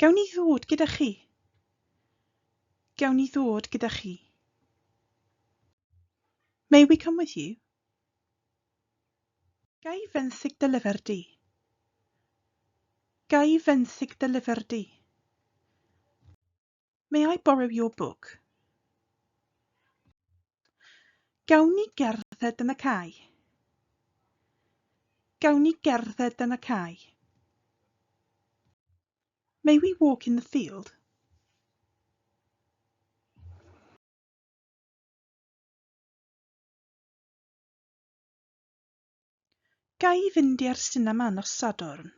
Gawn i ddod gyda chi? Gawn i ddod gyda chi? May we come with you? Gai fenthyg dy lyfr di? Gai fenthyg dy lyfr di? May I borrow your book? Gawn ni gerdded yn y cae? Gawn ni gerdded yn y cae? May we walk in the field? Ga i fynd i'r sinema nos Sadwrn?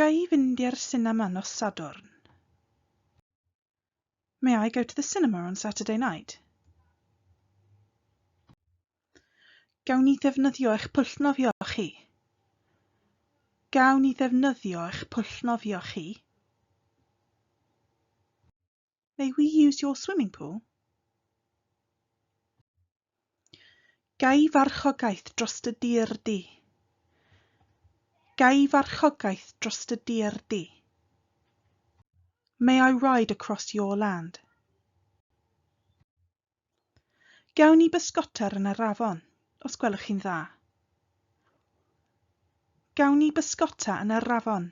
Ga i fynd i'r sinema nos Sadwrn? May I go to the cinema on Saturday night? Gawn ni ddefnyddio eich pwll nofio chi? Gawn ni ddefnyddio eich pwll nofio chi? May we use your swimming pool? Gai farchogaeth dros dy dir di? Gai farchogaeth dros dy dir di? May I ride across your land? Gawn ni bysgotar yn yr afon, os gwelwch chi'n dda? Gawn ni bysgota yn yr afon,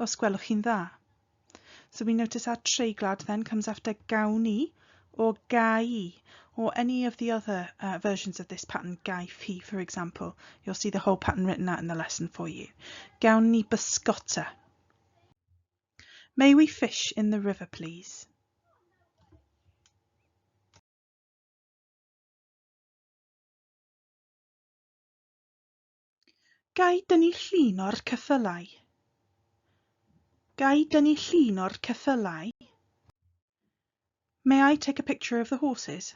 os gwelwch chi'n dda? So we notice our treiglad then comes after gawn ni, or gai, or any of the other uh, versions of this pattern, gai fi, for example. You'll see the whole pattern written out in the lesson for you. Gawn ni bysgota. May we fish in the river please? Gai dynnu llun o'r ceffylau? Gai dynnu llun o'r ceffylau? May I take a picture of the horses?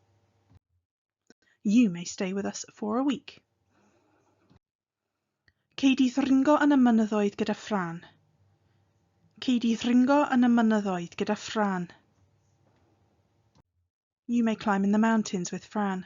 You may stay with us for a week. Cei di ddringo yn y mynyddoedd gyda Fran. Cei di ddringo yn y mynyddoedd gyda Fran. You may climb in the mountains with Fran.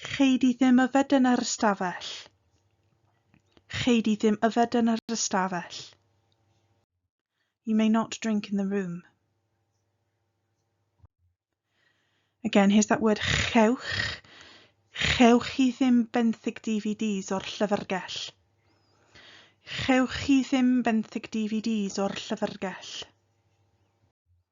Chei di ddim yfed yn yr ystafell. Chei di ddim yfed yn yr ystafell. You may not drink in the room. Again, here's that word chewch. Chewch chi ddim benthyg DVDs o'r llyfrgell. Chewch chi ddim benthyg DVDs o'r llyfrgell.